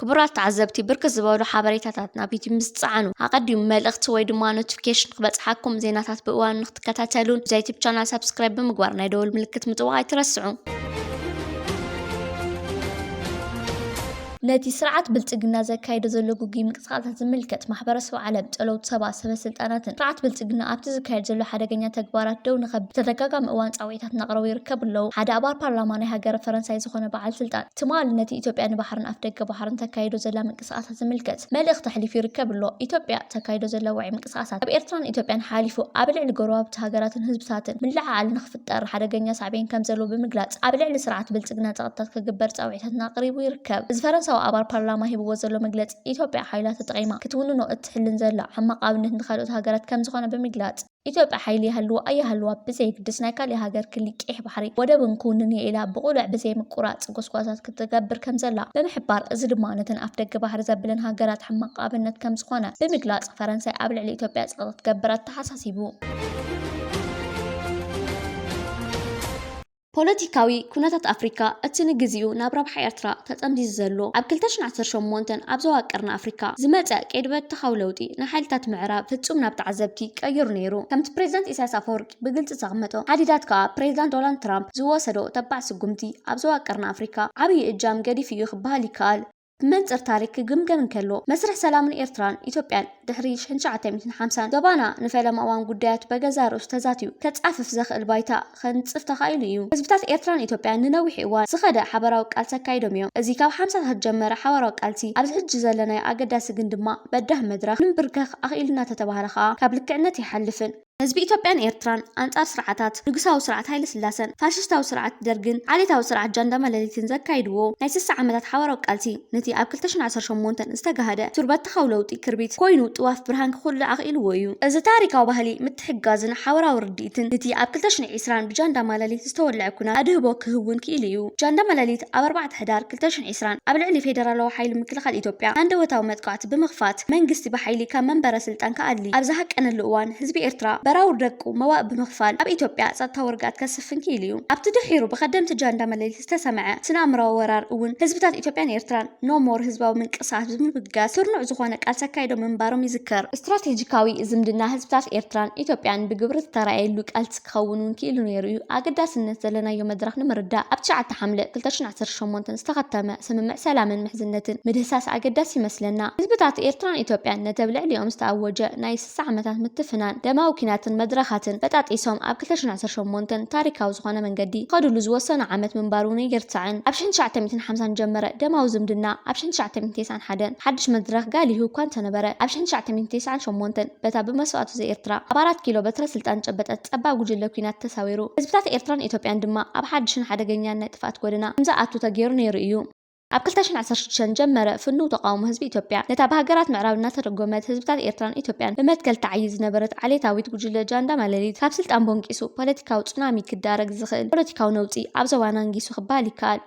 ክቡራት ተዓዘብቲ ብርክት ዝበሉ ሓበሬታታት ናብ ዩቱብ ምስ ትጽዓኑ ኣቐዲሙ መልእኽቲ ወይ ድማ ኖቲፊኬሽን ክበጽሓኩም ዜናታት ብእዋኑ ንክትከታተሉን እዚ ዩቱብ ቻናል ሳብስክራይብ ብምግባር ናይ ደወል ምልክት ምጥዋቕ ኣይትረስዑ። ነቲ ስርዓት ብልጽግና ዘካይዶ ዘሎ ግጉይ ምንቅስቓሳት ዝምልከት ማሕበረሰብ ዓለም፣ ጸለውቲ ሰባት፣ ሰበስልጣናትን ስርዓት ብልጽግና ኣብቲ ዝካየድ ዘሎ ሓደገኛ ተግባራት ደው ንኸብል ብተደጋጋሚ እዋን ጻውዒታት እናቕረቡ ይርከቡ ኣለዉ። ሓደ ኣባል ፓርላማ ናይ ሃገረ ፈረንሳይ ዝኾነ በዓል ስልጣን፣ ትማል ነቲ ኢትዮጵያ ንባሕርን ኣፍደገ ባሕርን ተካይዶ ዘላ ምንቅስቓሳት ዝምልከት መልእኽቲ ኣሕሊፉ ይርከብ ኣሎ። ኢትዮጵያ እተካይዶ ዘላ ውዑይ ምንቅስቓሳት፣ ኣብ ኤርትራን ኢትዮጵያን ሓሊፉ ኣብ ልዕሊ ጎረባብቲ ሃገራትን ህዝብታትን ምልዕዓል ንኽፍጠር ሓደገኛ ሳዕቤን ከም ዘለዎ ብምግላጽ፣ ኣብ ልዕሊ ስርዓት ብልጽግና ጸቕጥታት ክግበር ጻውዒታትን ኣቕሪቡ ይርከብ። እዚ ፈረንሳዊ ኣባል ፓርላማ ሂብዎ ዘሎ መግለጺ፣ ኢትዮጵያ ሓይላ ተጠቒማ ክትውንኖ እትሕልን ዘላ ሕማቕ ኣብነት ንኻልኦት ሃገራት ከም ዝኾነ ብምግላጽ፣ ኢትዮጵያ ሓይሊ ይሃልዎ ኣይሃልዋ ብዘየግድስ ናይ ካሊእ ሃገር ክሊ ቂሕ ባሕሪ ወደብን ክውንን እየ ኢላ ብቕሉዕ ብዘይ ምቁራፅ ጎስጓሳት ክትገብር ከምዘላ ብምሕባር እዚ ድማ ነተን ኣፍደገ ባሕሪ ዘብለን ሃገራት ሕማቕ ኣብነት ከምዝኾነ ብምግላፅ ፈረንሳይ ኣብ ልዕሊ ኢትዮጵያ ፀቕጢ ክትገብር ኣተሓሳሲቡ። ፖለቲካዊ ኩነታት ኣፍሪካ እቲ ንግዚኡ ናብ ረብሓ ኤርትራ ተጠምዚዙ ዘሎ ኣብ ክልተ ሽሕን ዓሰርተ ሸሞንተን ኣብ ዞባ ቀርኒ ኣፍሪካ ዝመፀ ቀይዲ በተኻዊ ለውጢ ንሓይልታት ምዕራብ ፍፁም ናብ ተዓዘብቲ ቀይሩ ነይሩ ከምቲ ፕሬዚዳንት ኢሳያስ ኣፈወርቂ ብግልፂ ዘቕመጦ ሓዲዳት ከኣ ፕሬዚዳንት ዶናልድ ትራምፕ ዝወሰዶ ተባዕ ስጉምቲ ኣብ ዞባ ቀርኒ ኣፍሪካ ዓብይ እጃም ገዲፉ እዩ ክበሃል ይከኣል። ብመንጽር ታሪክ ክግምገም እንከሎ፣ መስርሕ ሰላምን ኤርትራን ኢትዮጵያን ድሕሪ ሽሕን ትሽዓተ ሚእትን ሓምሳን ዞባና ንፈለማ እዋን ጉዳያቱ በገዛእ ርእሱ ተዛትዩ ከጻፍፍ ዘኽእል ባይታ ከንጽፍ ተኻኢሉ ኢዩ። ህዝብታት ኤርትራን ኢትዮጵያን ንነዊሕ እዋን ዝኸደ ሓባራዊ ቃልሲ ኣካይዶም ኢዮም። እዚ ካብ ሓምሳታት ዝጀመረ ሓባራዊ ቃልሲ ኣብዚ ሕጂ ዘለናዮ ኣገዳሲ ግን ድማ በዳህ መድረኽ ንምብርከኽ ኣኽኢሉና ተተባህለ ከኣ ካብ ልክዕነት ኣይሓልፍን። ህዝቢ ኢትዮጵያን ኤርትራን ኣንጻር ስርዓታት ንጉሳዊ ስርዓት ሃይለስላሰን ፋሽስታዊ ስርዓት ደርግን ዓሌታዊ ስርዓት ጃንዳ ማለሊትን ዘካይድዎ ናይ ስሳ ዓመታት ሓባራዊ ቃልሲ ነቲ ኣብ ክልተ ሽሕን ዓሰርተ ሸሞንተን ዝተጋህደ ቱርበትካዊ ለውጢ ክርቢት ኮይኑ ጥዋፍ ብርሃን ክኹልዕ ኣኽኢልዎ እዩ። እዚ ታሪካዊ ባህሊ ምትሕግጋዝን ሓባራዊ ርድኢትን ንቲ ኣብ ክልተ ሽሕን ዒስራን ብጃንዳ ማለሊት ዝተወልዐ ኩናት ኣድህቦ ክህቡን ክኢሉ እዩ። ጃንዳ ማለሊት ኣብ ኣርባዕተ ሕዳር ክልተ ሽሕን ዒስራን፣ ዕስራን፣ ኣብ ልዕሊ ፌደራላዊ ሓይሊ ምክልኻል ኢትዮጵያ ሃንደበታዊ መጥቓዕቲ ብምኽፋት መንግስቲ ብሓይሊ ካብ መንበረ ስልጣን ክኣሊ ኣብ ዝሃቀነሉ እዋን ህዝቢ ኤርትራ በራውር ደቁ መዋእ ብምኽፋል ኣብ ኢትዮጵያ ጸጥታዊ ርግኣት ከስፍን ክኢሉ እዩ። ኣብቲ ድሒሩ ብከደምቲ ጃንዳ መለሊት ዝተሰምዐ ስነ-ኣእምሮኣዊ ወራር እውን ህዝብታት ኢትዮጵያን ኤርትራን No More ህዝባዊ ምንቅስቓስ ብምብጋስ ስርኑዕ ዝኾነ ቃልሲ ኣካይዶም ምንባሮም ይዝከር። ስትራቴጂካዊ ዝምድና ህዝብታት ኤርትራን ኢትዮጵያን ብግብሪ ዝተራእየሉ ቃልሲ፣ ክኸውን እውን ክኢሉ ነይሩ እዩ። ኣገዳስነት ዘለናዮ መድረኽ ንምርዳእ፣ ኣብ ትሽዓተ ሓምለ ክልተ ሽሕን ዓሰርተ ሸሞንተን ዝተኸተመ ስምምዕ ሰላምን ምሕዝነትን ምድህሳስ ኣገዳሲ ይመስለና። ህዝብታት ኤርትራን ኢትዮጵያን ነቲ ኣብ ልዕሊኦም ዝተኣወጀ ናይ ስሳ ዓመታት ምትፍናን፣ ደማዊ ኲናትን መድረኻትን በጣጢሶም ኣብ ክልተ ሽሕን ዓሰርተ ሸሞንተን ታሪኻዊ ዝኾነ መንገዲ ክኸድሉ ዝወሰኑ ዓመት ምንባሩ እውን ኣይርሳዕን። ኣብ ሽሕን ትሽዓተ ሚእትን ሓምሳን ዝጀመረ ደማዊ ዝምድና ኣብ ሽሕን ትሽዓተ ሚእትን ተስዓን ሓደን ሓድሽ መድረኽ ጋሊሁ እኳ እንተነበረ፣ ኣብ ሽሕን ትሽዓተ ሚእትን ተስዓን ሸሞንተን፣ በታ ብመስዋእቱ ዘኤርትራ ኣብ ኣራት ኪሎ በትረ ስልጣን ዝጨበጠት ጸባብ ጉጅለ ኲናት ተሳዊሩ፣ ህዝብታት ኤርትራን ኢትዮጵያን ድማ ኣብ ሓድሽን ሓደገኛን ናይ ጥፍኣት ጎደና ከም ዝኣቱ ተገይሩ ነይሩ ኢዩ። ኣብ ክልተ ሽሕን ዓሰርተ ሽዱሽተን ዝጀመረ ፍኑው ተቓውሞ ህዝቢ ኢትዮጵያ፣ ነታ ብሃገራት ምዕራብ እናተደጎመት ህዝብታት ኤርትራን ኢትዮጵያን ብመትከል ትዓይይ ዝነበረት ዓሌታዊት ጉጅለ ጃንዳ ማለሊት ካብ ስልጣን ቦንቂሱ፣ ፖለቲካዊ ጹናሚ ክዳረግ ዝኽእል ፖለቲካዊ ነውጺ ኣብ ዞባና ኣንጊሱ ክበሃል ይከኣል።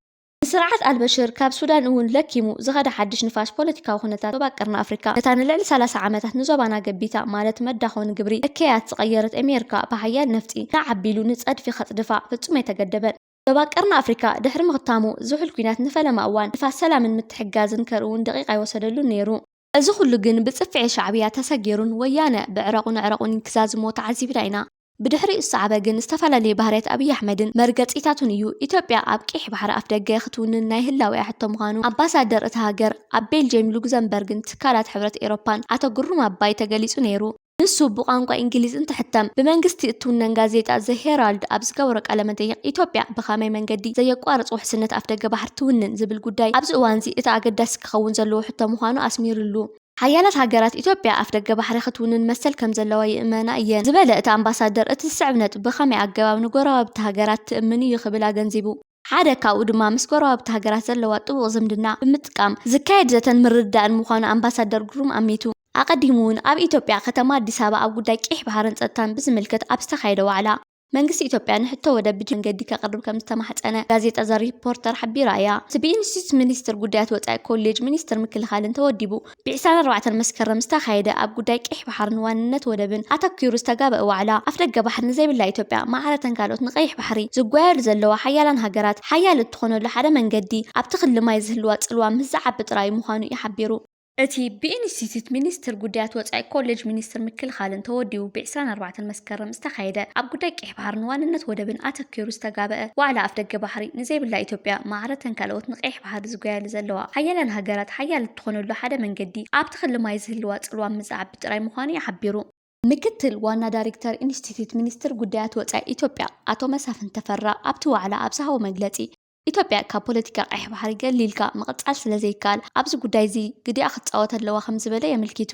ንስርዓት ኣልበሽር ካብ ሱዳን እውን ለኪሙ ዝኸደ ሓድሽ ንፋስ ፖለቲካዊ ኩነታት ዞባ ቀርኒ ኣፍሪካ፣ ነታ ንልዕሊ ሰላሳ ዓመታት ንዞባና ገቢታ ማለት መዳኾ ንግብሪ እከያት ዝቐየረት ኤሜርካ ብሓያል ነፍጢ ናዕ ኣቢሉ ንፀድፊ ከፅድፋ ፍፁም ኣይተገደበን። ዞባ ቀርኒ ኣፍሪካ ድሕሪ ምኽታሙ ዝሑል ኩናት ንፈለማ እዋን ንፋስ ሰላምን ምትሕግጋዝን ከርእውን ደቒቕ ኣይወሰደሉን ነይሩ። እዚ ኩሉ ግን ብጽፍዒ ሻዕብያ ተሰጊሩን ወያነ ብዕረቑን ኣዕረቑን ክዛዝሞ ተዓዚብና ኢና። ብድሕሪኡ ዝሰዓበ ግን ዝተፈላለየ ባህርያት ኣብይ ኣሕመድን መርገጺታቱን እዩ። ኢትዮጵያ ኣብ ቀይሕ ባሕሪ ኣፍደገ ክትውንን ናይ ህላዌኣ ሕቶ ምዃኑ ኣምባሳደር እታ ሃገር ኣብ ቤልጅየም ሉግዘምበርግን ትካላት ሕብረት ኤሮፓን ኣቶ ግሩም ኣባይ ተገሊጹ ነይሩ። ንሱ ብቋንቋ ኢንግሊዝ እንትሕተም ብመንግስቲ እትውነን ጋዜጣ ዘ ሄራልድ ኣብ ዝገበሮ ቃለ መጠይቕ ኢትዮጵያ ብኻመይ መንገዲ ዘየቋርፅ ውሕስነት ኣፍደገ ባሕሪ ትውንን ዝብል ጉዳይ ኣብዚ እዋንዚ እቲ ኣገዳሲ ክኸውን ዘለዎ ሕቶ ምዃኑ ኣስሚርሉ። ሓያላት ሃገራት ኢትዮጵያ ኣፍደገ ባሕሪ ክትውንን መሰል ከምዘለዋ ይእመና እየን ዝበለ እቲ ኣምባሳደር እቲ ዝስዕብ ነጥቢ ብኻመይ ኣገባብ ንጎረባብቲ ሃገራት ትእምን እዩ ክብል ኣገንዚቡ። ሓደ ካብኡ ድማ ምስ ጎረባብቲ ሃገራት ዘለዋ ጥቡቕ ዝምድና ብምጥቃም ዝካየድ ዘተን ምርድዳእን ምዃኑ ኣምባሳደር ግሩም ኣሚቱ። ኣቐዲሙ'ውን ኣብ ኢትዮጵያ ከተማ ኣዲስ ኣበባ ኣብ ጉዳይ ቂሕ ባሕርን ጸጥታን ብዝምልከት ኣብ ዝተኻየደ ዋዕላ፣ መንግስቲ ኢትዮጵያ ንሕቶ ወደብ ብጅምላ መንገዲ ከቕርብ ከምዝተማሕጸነ ጋዜጣ ዘ ሪፖርተር ሓቢራ እያ። እቲ ብኢንስቲትዩት ሚኒስትር ጉዳያት ወጻኢ ኮሌጅ ሚኒስትር ምክልኻልን ተወዲቡ፣ ብዕስራን ኣርባዕተን መስከረም ዝተኻየደ ኣብ ጉዳይ ቀይሕ ባሕርን ዋንነት ወደብን ኣተኲሩ ዝተጋበእ ዋዕላ፣ ኣፍደገ ባሕሪ ንዘይብላ ኢትዮጵያ ማዕረ'ተን ካልኦት ንቀይሕ ባሕሪ ዝጓየሉ ዘለዋ ሓያላን ሃገራት ሓያል እትኾነሉ ሓደ መንገዲ ኣብቲ ክሊ ማይ ዝህልዋ ጽልዋ ምስ ዝዓቢ ጥራይ'ዩ ምዃኑ'ዩ ሓቢሩ። እቲ ብኢንስቲትዩት ሚኒስትር ጉዳያት ወጻኢ ኮሌጅ ሚኒስትር ምክልኻልን ተወዲቡ ብዕስራን ኣርባዕተን መስከረም ዝተኻየደ ኣብ ጉዳይ ቀይሕ ባሕርን ዋንነት ወደብን ኣተኲሩ ዝተጋበእ ዋዕላ ኣፍደገ ባሕሪ ንዘይብላ ኢትዮጵያ ማዕረ'ተን ካልኦት ንቀይሕ ባሕሪ ዝጓያሉ ዘለዋ ሓያላን ሃገራት ሓያል ዝኾነሉ ሓደ መንገዲ፣ ኣብ ተኽሊ ማይ ዝህልዋ ፅልዋ ምዝዓብ ጥራይ ምዃኑ እዩ ሓቢሩ። ምክትል ዋና ዳሪክተር ኢንስቲትዩት ሚኒስትር ጉዳያት ወፃኢ ኢትዮጵያ ኣቶ መሳፍንት ተፈራ ኣብቲ ዋዕላ ኣብ ዝሃቦ መግለፂ፣ ኢትዮጵያ ካብ ፖለቲካ ቀይሕ ባሕሪ ገሊልካ ምቕፃል ስለዘይከኣል ኣብዚ ጉዳይ እዚ ግዲኣ ክትፃወት ኣለዋ ከምዝበለ የመልኪቱ።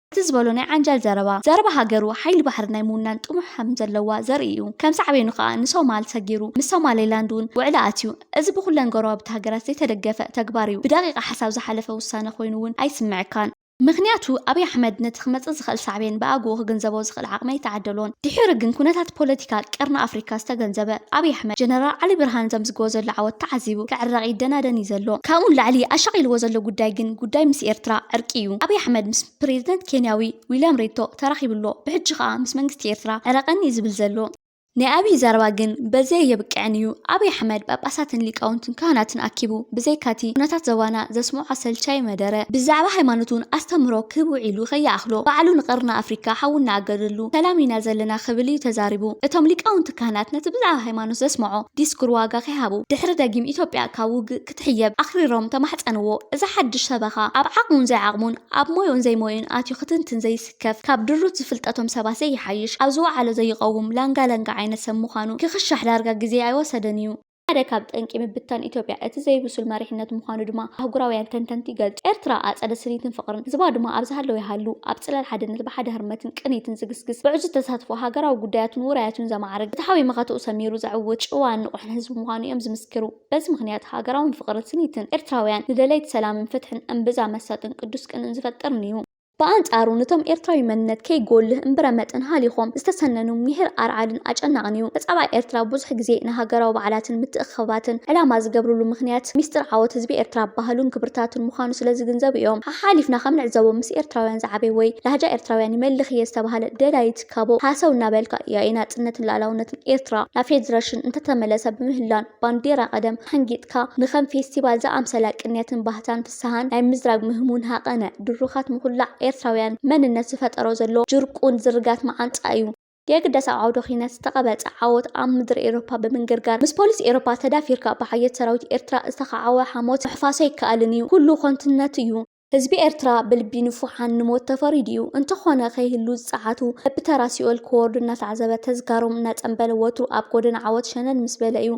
እቲ ዝበሎ ናይ ዓንጃል ዘረባ፣ ዘረባ ሃገሩ ሓይሊ ባሕሪ ናይ ምውናን ጥሙሕ ከም ዘለዋ ዘርኢ እዩ። ከም ሳዕቤኑ ከኣ ንሶማል ሰጊሩ፣ ምስ ሶማሌላንድ እውን ውዕሊ ኣትዩ። እዚ ብኹለን ጎረባብቲ ሃገራት ዘይተደገፈ ተግባር እዩ። ብደቂቃ ሓሳብ ዝሓለፈ ውሳነ ኮይኑ እውን ኣይስመዐካን። ምኽንያቱ ኣብይ ኣሕመድ ነቲ ክመጽእ ዝኽእል ሳዕቤን ብኣግኡ ክግንዘቦ ዝኽእል፣ ዝኽእል ዓቕሚ ኣይተዓደሎን። ድሒሩ ግን ኩነታት ፖለቲካ ቀርኒ ኣፍሪካ ዝተገንዘበ ኣብይ ኣሕመድ፣ ጀነራል ዓሊ ብርሃን ዘምዝግቦ ዘሎ ዓወት ተዓዚቡ ክዕረቕ ይደናደን እዩ ዘሎ። ካብኡ ንላዕሊ ኣሻቒልዎ ዘሎ ጉዳይ ግን ጉዳይ ምስ ኤርትራ ዕርቂ እዩ። ኣብይ ኣሕመድ ምስ ፕረዚደንት ኬንያዊ ዊልያም ሪቶ ተራኺቡ ኣሎ። ብሕጂ ከኣ ምስ መንግስቲ ኤርትራ ዕረቐኒ እዩ ዝብል ዘሎ። ናይ ኣብይ ዘረባ ግን በዚ ኣየብቅዕን እዩ። ኣብይ ኣሕመድ ጳጳሳትን ሊቃውንትን ካህናትን ኣኪቡ ብዘይካቲ ኩነታት ዞባና ዘስምዖ ኣሰልቻዪ መደረ ብዛዕባ ሃይማኖትውን ኣስተምህሮ ክህብ ውዒሉ ከይኣኽሎ ባዕሉ ንቀርኒ ኣፍሪካ ሓዊ እናኣገደሉ ሰላም ኢና ዘለና ክብል እዩ ተዛሪቡ። እቶም ሊቃውንቲ ካህናት ነቲ ብዛዕባ ሃይማኖት ዘስምዖ ዲስኩር ዋጋ ከይሃቡ ድሕሪ ደጊም ኢትዮጵያ ካብ ውግእ ክትሕየብ ኣኽሪሮም ተማሕጸንዎ። እዚ ሓድሽ ሰበኻ ኣብ ዓቕሙን ዘይዓቕሙን ኣብ ሞይኡን ዘይሞይኡን ኣትዩ ክትንትን ዘይስ። ከፍ ካብ ድሩት ዝፍልጠቶም ሰባት ዘይሓይሽ፣ ኣብ ዝወዓሎ ዘይቐውም፣ ላንጋ ላንጋ ዓይነት ሰብ ምዃኑ ክኽሻሕ ዳርጋ ግዜ ኣይወሰደን እዩ። ሓደ ካብ ጠንቂ ምብትታን ኢትዮጵያ እቲ ዘይብሱል መሪሕነት ምዃኑ ድማ ኣህጉራውያን ተንተንቲ ይገልጹ። ኤርትራ ኣጸደ ስኒትን ፍቕርን፣ ህዝባ ድማ ኣብ ዝሃለወ ይሃሉ፣ ኣብ ጽላል ሓድነት ብሓደ ህርመትን ቅኒትን ዝግስግስ፣ ብዕዙዝ ተሳትፎ ሃገራዊ ጉዳያቱን ውራያቱን ዘማዕርግ፣ ፍትሓዊ መኸተኡ ሰሚሩ ዘዕውት፣ ጭዋን ንቑሕን ህዝቢ ምዃኑ እዮም ዝምስክሩ። በዚ ምኽንያት ሃገራውን ፍቕርን ስኒትን ኤርትራውያን ንደለይቲ ሰላምን ፍትሕን እምብዛ መሳጥን ቅዱስ ቅንእን ዝፈጥርን'ዩ። ብኣንጻሩ ነቶም ኤርትራዊ መንነት ከይጎልህ እምብረ መጠን ሃሊኾም ዝተሰነኑ ሚሒር ኣርዓድን ኣጨናቕን እዩ። ተጻባኢ ኤርትራ ብዙሕ ግዜ ንሃገራዊ በዓላትን ምትእኽኽባትን ዕላማ ዝገብርሉ ምኽንያት ሚስጥር ዓወት ህዝቢ ኤርትራ ባህሉን ክብርታቱን ምዃኑ ስለ ዝግንዘቡ እዮም። ሓሓሊፍና ከም ንዕዘቦ ምስ ኤርትራውያን ዝዓበየ ወይ ላህጃ ኤርትራውያን ይመልኽ እየ ዝተባህለ ደላዪ ትካቦ ሃሰው እናበልካ ያኢ ናጽነትን ልኣላውነትን ኤርትራ ናብ ፌድረሽን እንተተመለሰ ብምህላን ባንዴራ ቀደም ሓንጊጥካ ንከም ፌስቲቫል ዝኣምሰላ ቅንያትን ባህታን ፍስሃን ናይ ምዝራግ ምህሙን ሃቐነ ድሩኻት ምኹላዕ ኤርትራውያን መንነት ዝፈጠሮ ዘሎ ጅርቁን ዝርጋት መዓንጣ እዩ። የግዳስ ኣብ ዓውደ ኩናት ዝተቐበጸ ዓወት ኣብ ምድሪ ኤሮፓ ብምንግርጋር ምስ ፖሊስ ኤሮፓ ተዳፊርካ ብሓየት ሰራዊት ኤርትራ ዝተኻዕወ ሓሞት ምሕፋስ ኣይከኣልን እዩ። ኩሉ ኮንትነት እዩ። ህዝቢ ኤርትራ ብልቢ ንፉሓን ንሞት ተፈሪዱ እዩ። እንተኾነ ከይህሉ ዝጸዓቱ በብተራ ሲኦል ክወርዱ እናተዓዘበ ተዝካሮም እናጸንበለ ወትሩ ኣብ ጎደና ዓወት ሸነን ምስ በለ እዩ።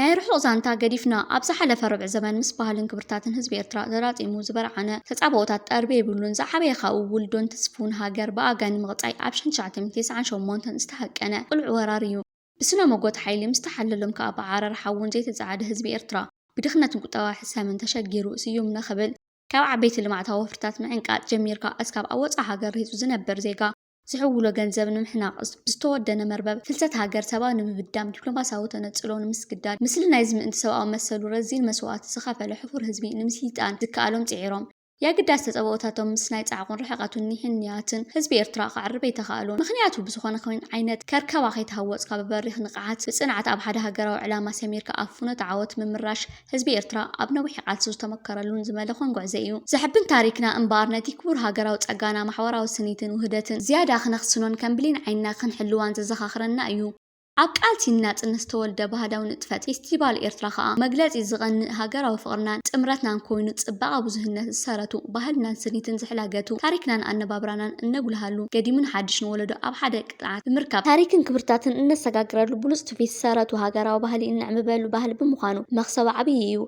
ናይ ርሑቕ ዛንታ ገዲፍና፣ ኣብ ዝሓለፈ ርብዒ ዘመን ምስ ባህልን ክብርታትን ህዝቢ ኤርትራ ተላጺሙ ዝበርዓነ ተጻብኦታት ጠርቢ የብሉን። ዝዓበየ ካብኡ ውልዶን ትስፉውን ሃገር ብኣጋ ንምቕጻይ ኣብ ሽሕን ትሽዓተ ሚእቲ ትስዓን ሸሞንተን ዝተሃቀነ ቅሉዕ ወራር እዩ። ብስነ-ሞጎት ሓይሊ ምስ ተሓለሎም ከኣ ብዓረር ሓውን ዘይተጸዓደ ህዝቢ ኤርትራ፣ ብድኽነትን ቁጠባዊ ሕሰምን ተሸጊሩ ስዩም ንኽብል፣ ካብ ዓበይቲ ልምዓታዊ ወፍርታት ምዕንቃጽ ጀሚርካ እስካብ ኣብ ወጻእ ሃገር ርሂጹ ዝነብር ዜጋ፣ ዝሕውሎ ገንዘብ ንምሕናቕ፣ ብዝተወደነ መርበብ ፍልሰት ሃገር ሰባ ንምብዳም፣ ዲፕሎማሲያዊ ተነጽሎ ንምስግዳድ፣ ምስሊ ናይዚ ምእንቲ ሰብኣዊ መሰሉ ረዚን መስዋእቲ ዝኸፈለ ሕፉር ህዝቢ ንምስይጣን ዝከኣሎም ጽዒሮም። የግዳስ ተጸብኦታቶም ምስ ናይ ጻዕቑን ርሕቐቱን ኒሕን ንያትን ህዝቢ ኤርትራ ክዓርብ ኣይተኻእሉን። ምኽንያቱ ብዝኾነ ኹን ዓይነት ከርከባ ከይተሃወጽካ ብበሪኽ ንቕሓት ብጽንዓት ኣብ ሓደ ሃገራዊ ዕላማ ሰሚርካ ኣብ ፍኖተ ዓወት ምምራሽ ህዝቢ ኤርትራ ኣብ ነዊሕ ቃልሱ ዝተመከረሉን ዝመለኾን ጉዕዘ ኢዩ። ዘሕብን ታሪክና እምበኣር ነቲ ክቡር ሃገራዊ ጸጋና ማሕዋራዊ ስኒትን ውህደትን ዝያዳ ክነኽስኖን ከም ብሌን ዓይንና ክንሕልዋን ዘዘኻኽረና ኢዩ። ኣብ ቃልሲ ንናጽነት ዝተወልደ ባህዳዊ ንጥፈት ፌስቲቫል ኤርትራ ከኣ መግለጺ ዝቐንእ ሃገራዊ ፍቕርናን ጥምረትናን ኮይኑ ጽባቐ ብዙህነት ዝሰረቱ ባህልናን ስኒትን ዝሕላገቱ ታሪክናን ኣነባብራናን እነጉልሃሉ ገዲምን ሓድሽን ወለዶ ኣብ ሓደ ጥዕናን ምርካብ ታሪክን ክብርታትን እነሰጋግረሉ ብሉፅ ትውፊት ሰረቱ ሃገራዊ ባህሊ እነዕምበሉ ባህሊ ብምዃኑ መኽሰቡ ዓብዪ እዩ።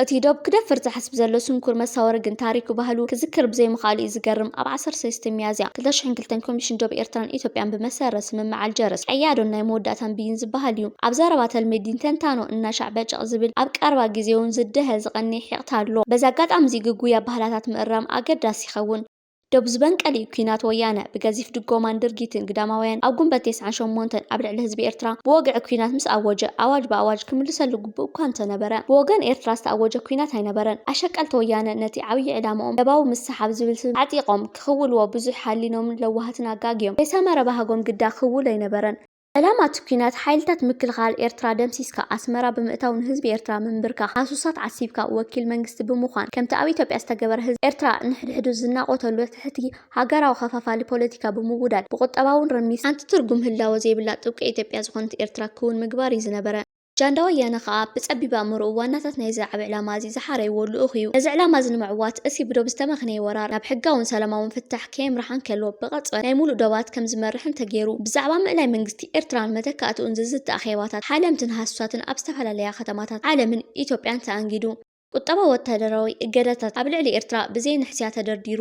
እቲ ዶብ ክደፍር ዝሓስብ ዘሎ ስንኩር መሳወሪ ግን ታሪኩ ባህሉ ክዝክር ብዘይምኽኣሉ እዩ ዝገርም። ኣብ ዓሰርተ ሰለስተ ሚያዝያ ክልተ ሽሕን ክልተን ኮሚሽን ዶብ ኤርትራን ኢትዮጵያን ብመሰረት ስምምዕ ኣልጀርስ ቀያዶን ናይ መወዳእታን ብይን ዝበሃል እዩ ኣብ ዘረባ ተልመዲን ተንታኖ እናሻዕ በጨቕ ዝብል ኣብ ቀረባ ግዜውን ዝደሀ ዝቐንየ ሒቕታ ኣሎ። በዚ ኣጋጣሚ እዚ ግጉይ ኣባህላታት ምእራም ኣገዳሲ ይኸውን። ዶብ ዝበንቀል'ዩ ኲናት ወያነ ብገዚፍ ድጎማን ድርጊትን ግዳማውያን ኣብ ጉንበት ቴስዓን ሸሞንተን ኣብ ልዕሊ ህዝቢ ኤርትራ ብወግዒ ኲናት ምስ ኣወጀ ኣዋጅ ብኣዋጅ ክምልሰሉ ግቡእ'ኳ እንተነበረ ብወገን ኤርትራ ዝተኣወጀ ኲናት ኣይነበረን ኣሸቀልቲ ወያነ ነቲ ዓብዪ ዕላምኦም ለባዊ ምስሓብ ዝብል ስም ኣዕጢቖም ክኽውልዎ ብዙሕ ሓሊኖምን ለዋሃትን ኣጋግዮም ከይሰመረ ባህጎም ግዳ ክውል ኣይነበረን ዕላማ እቲ ኲናት ሓይልታት ምክልኻል ኤርትራ ደምሲስካ ኣስመራ ብምእታው ንህዝቢ ኤርትራ ምምብርካኽ፣ ሃሱሳት ዓሲብካ ወኪል መንግስቲ ብምዃን ከምቲ ኣብ ኢትዮጵያ ዝተገበረ ህዝቢ ኤርትራ ንሕድሕዱ ዝናቖተሉ ትሕቲ ሃገራዊ ከፋፋሊ ፖለቲካ ብምውዳድ ብቑጠባውን ርሚስ ሓንቲ ትርጉም ህላወ ዘይብላ ጥብቂ ኢትዮጵያ ዝኾነት ኤርትራ ክውን ምግባር እዩ ዝነበረ። ጃንዳ ወያነ ከኣ ብጸቢብ ኣእምሮኡ ዋናታት ናይዚ ዓቢ ዕላማ'ዚ ዝሓረይዎ ልኡኽ'ዩ። ነዚ ዕላማ'ዚ ንምዕዋት እቲ ብዶብ ዝተመኽነየ ወራር ናብ ሕጋውን ሰላማውን ፍታሕ ከየምርሓ እንከሎ ብቐጽበት ናይ ምሉእ ዶባት ከም ዝመርሕ እንተገይሩ ብዛዕባ ምእላይ መንግስቲ ኤርትራን መተካእትኡን ዝዝቲ ኣኼባታት ሓለምትን ሃሱሳትን ኣብ ዝተፈላለያ ከተማታት ዓለምን ኢትዮጵያን ተኣንጊዱ። ቁጠባዊ ወተሃደራዊ እገዳታት ኣብ ልዕሊ ኤርትራ ብዘይንሕስያ ተደርዲሩ።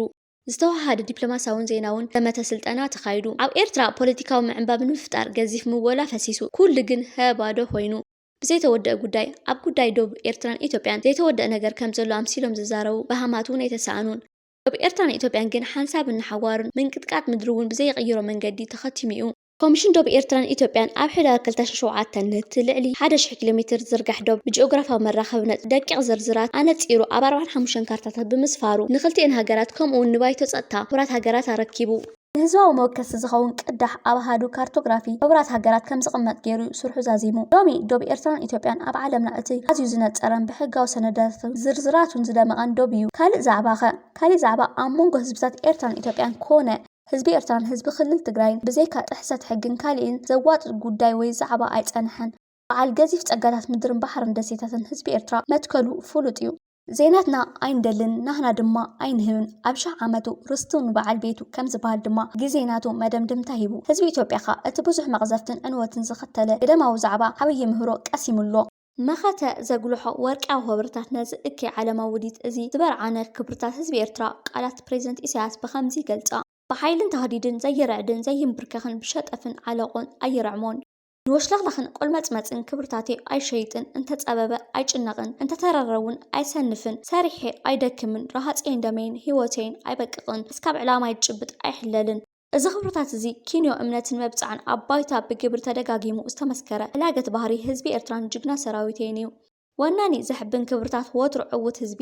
ዝተወሃሃደ ዲፕሎማስያውን ዜናውን ዘመተ ስልጠና ተኻይዱ። ኣብ ኤርትራ ፖለቲካዊ ምዕንባብ ንምፍጣር ገዚፍ ምወላ ፈሲሱ። ኩሉ ግን ሀ ባዶ ኮይኑ። ብዘይተወደኣ ጉዳይ፣ ኣብ ጉዳይ ዶብ ኤርትራን ኢትዮጵያን ዘይተወደኣ ነገር ከም ዘሎ ኣምሲሎም ዝዛረቡ በሃማት'ውን ኣይተሳእኑን። ዶብ ኤርትራን ኢትዮጵያን ግን ሓንሳብን ንሓዋሩን ምንቅጥቃጥ ምድሪ'ውን ብዘይቕይሮ መንገዲ ተኸቲሙ'ዩ። ኮሚሽን ዶብ ኤርትራን ኢትዮጵያን ኣብ ሕዳር ክልተ ሽሕን ሸውዓተን ነቲ ልዕሊ ሓደ ሽሕ ኪሎ ሜተር ዝዝርጋሕ ዶብ ብጂኦግራፍያዊ መራኸቢ ነጥቢ ደቂቕ ዝርዝራት ኣነጺሩ ኣብ ኣርባዓን ሓሙሽተን ካርታታት ብምስፋሩ ንኽልቲኤን ሃገራት ከምኡ'ውን ንባይቶ ጸጥታ ሕቡራት ሃገራት ኣረኪቡ። ንህዝባዊ መወከሲ ዝኸውን ቅዳሕ ኣብ ኣሃዱ ካርቶግራፊ ሕቡራት ሃገራት ከም ዝቕመጥ ገይሩ'ዩ ስርሑ ዛዚሙ። ሎሚ ዶብ ኤርትራን ኢትዮጵያን ኣብ ዓለምና እቲ ኣዝዩ ዝነጸረን ብሕጋዊ ሰነዳታቱን ዝርዝራቱን ዝደመቐን ዶብ'ዩ። ካልእ ዛዕባ'ኸ? ካሊእ ዛዕባ ኣብ መንጎ ህዝብታት ኤርትራን ኢትዮጵያን ኮነ፣ ህዝቢ ኤርትራን ህዝቢ ክልል ትግራይን ብዘይካ ጥሕሰት ሕግን ካሊእን ዘዋጥጥ ጉዳይ ወይ ዛዕባ ኣይጸነሐን። በዓል ገዚፍ ጸጋታት ምድርን ባሕርን ደሴታትን ህዝቢ ኤርትራ መትከሉ ፍሉጥ እዩ። ዘይናትና ኣይንደልን ናህና ድማ ኣይንህብን ኣብ ሽሕ ዓመቱ ርስቱ ንበዓል ቤቱ ከም ዝበሃል ድማ ግዜ ናቱ መደምደምታ ሂቡ። ህዝቢ ኢትዮጵያ ከኣ እቲ ብዙሕ መቕዘፍትን ዕንወትን ዘኸተለ ግደማዊ ዛዕባ ዓብዪ ምህሮ ቀሲሙ ኣሎ። መኸተ ዘጉልሖ ወርቅያዊ ሆበርታት ነዚ እከይ ዓለማዊ ውዲት እዚ ዝበርዓነ ክብርታት ህዝቢ ኤርትራ ቃላት ፕረዚደንት ኢሳያስ ብኸምዚ ይገልጻ፣ ብሓይልን ታህዲድን ዘይርዕድን ዘይምብርከኽን ብሸጠፍን ዓለቆን ኣይርዕሞን። ንወሽላኽላኽን ቆልመጽመጽን ክብርታተይ ኣይሸይጥን፣ እንተጸበበ ኣይጭነቕን፣ እንተተረረ'ውን ኣይሰንፍን፣ ሰሪሐ ኣይደክምን፣ ረሃጸይን ደመይን ህይወተይን ኣይበቅቕን፣ እስካብ ዕላማይ ዝጭብጥ ኣይሕለልን። እዚ ክብርታት እዚ ኪንዮ እምነትን መብጽዓን ኣብ ባይታ ብግብሪ ተደጋጊሙ ዝተመስከረ ሕላገት ባህሪ ህዝቢ ኤርትራን ጅግና ሰራዊተይን እዩ። ወናኒ ዘሕብን ክብርታት ወትሩ ዕዉት ህዝቢ!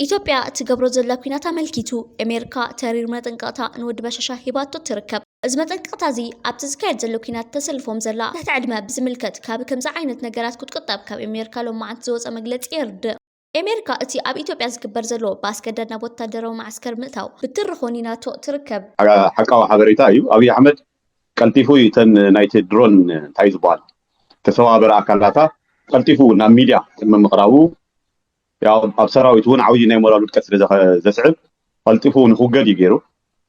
ኢትዮጵያ እትገብሮ ዘላ ኲናት ኣመልኪቱ ኤሜርካ ተሪር መጠንቀቕታ ንወዲ በሻሻ ሂባቶ ትርከብ። እዚ መጠንቀቕታ እዚ ኣብቲ ዝካየድ ዘሎ ኲናት ተሰልፎም ዘላ ትሕቲ ዕድመ ብዝምልከት ካብ ከምዚ ዓይነት ነገራት ክትቁጠብ ካብ ኤሜርካ ሎማዓንቲ ዝወጸ መግለጺ የርድእ። ኤሜርካ እቲ ኣብ ኢትዮጵያ ዝግበር ዘሎ ብኣስገዳድ ናብ ወታደራዊ መዓስከር ምእታው ብትሪ ኾኒናቶ ትርከብ። ሓቃዊ ሓበሬታ እዩ ኣብይ ኣሕመድ ቀልጢፉ እዩ እተን ናይቲ ድሮን እንታይ እዩ ዝብሃል ተሰባብር ኣካላታ ቀልጢፉ ናብ ሚድያ ቅድሚ ምቅራቡ ያው ኣብ ሰራዊት እውን ዓብይ ናይ ሞራል ውድቀት ስለ ዘስዕብ ቀልጢፉ ንክውገድ እዩ ገይሩ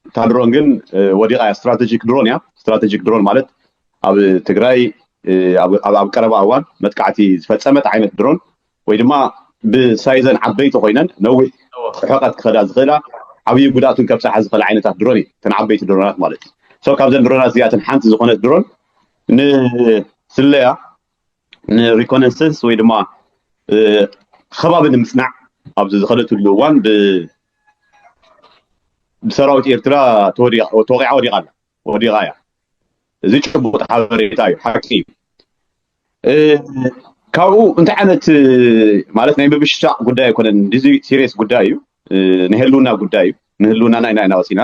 እታ ድሮን ግን ወዲቓ እያ ስትራቴጂክ ድሮን እያ ስትራቴጂክ ድሮን ማለት ኣብ ትግራይ ኣብ ቀረባ እዋን መጥቃዕቲ ዝፈፀመት ዓይነት ድሮን ወይ ድማ ብሳይዘን ዓበይቲ ኮይነን ነዊሕ ርሕቐት ክኸዳ ዝኽእላ ዓብዪ ጉድኣትን ከብፅሓ ዝኽእል ዓይነታት ድሮን እዩ እተን ዓበይቲ ድሮናት ማለት እዩ ሶ ካብዘን ድሮናት እዚኣተን ሓንቲ ዝኾነት ድሮን ንስለያ ንሪኮነሰንስ ወይ ድማ ከባቢ ንምፅናዕ ኣብዚ ዝኸደትሉ እዋን ብሰራዊት ኤርትራ ተወቂዓ ወዲቓ ኣላ ወዲቓ እያ እዚ ጭቡጥ ሓበሬታ እዩ ሓቂ እዩ ካብኡ እንታይ ዓይነት ማለት ናይ ምብሽሻቅ ጉዳይ ኣይኮነን እዚ ሲሪየስ ጉዳይ እዩ ናይ ህልውና ጉዳይ እዩ ንህልውናና ኢና ኢና ወፂና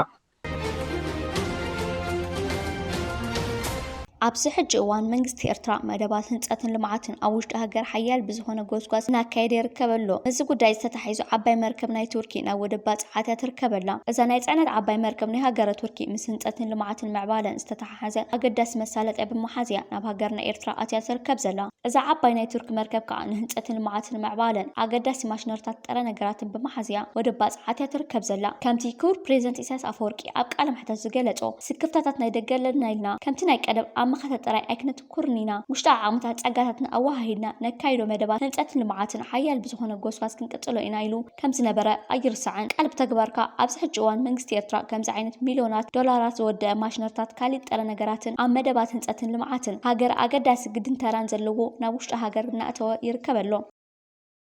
ኣብዚ ሕጂ እዋን መንግስቲ ኤርትራ መደባት ህንፀትን ልምዓትን ኣብ ውሽጢ ሃገር ሓያል ብዝኾነ ጎስጓስ እናካየደ ይርከብ ኣሎ። እዚ ጉዳይ እዚ ተታሒዙ ዓባይ መርከብ ናይ ቱርኪ ናብ ወደብ ባፅዓት እያ ትርከብ ኣላ። እዛ ናይ ፅዕነት ዓባይ መርከብ ናይ ሃገረ ቱርኪ ምስ ህንፀትን ልምዓትን ምዕባለን ዝተተሓሓዘ ኣገዳሲ መሳለጥያ ብምሓዝ እያ ናብ ሃገርና ኤርትራ ኣትያ ትርከብ ዘላ። እዛ ዓባይ ናይ ቱርኪ መርከብ ከኣ ንህንጸትን ልምዓትን ምዕባለን ኣገዳሲ ማሽነሪታትን ጥረ ነገራትን ብምሓዝ እያ ወደብ ባጽዓት እያ ትርከብ ዘላ። ከምቲ ክቡር ፕረዚደንት ኢሳያስ ኣፈወርቂ ኣብ ቃለ መሕተት ዝገለጾ፣ ስክፍታታት ናይ ደገ ኣለና ኢልና ከምቲ ናይ ቀደም ኣብ መኸተ ጥራይ ኣይክነትኩርን ኢና። ውሽጣዊ ዓቕምታትን ጸጋታትና ኣወሃሂድና ነካይዶ መደባት ህንጸትን ልምዓትን ሓያል ብዝኾነ ጎስጓስ ክንቅጽሎ ኢና ኢሉ። ከም ዝነበረ ኣይርሳዕን። ቃል ብተግባርካ ኣብዚ ሕጂ እዋን መንግስቲ ኤርትራ ከምዚ ዓይነት ሚልዮናት ዶላራት ዝወደኣ ማሽነርታት ካሊእ ጥረ ነገራትን ኣብ መደባት ህንጸትን ልምዓትን ሃገር ኣገዳሲ ግድን ተራን ዘለዎ ናብ ውሽጢ ሃገር እናእተወ ይርከብ ኣሎ።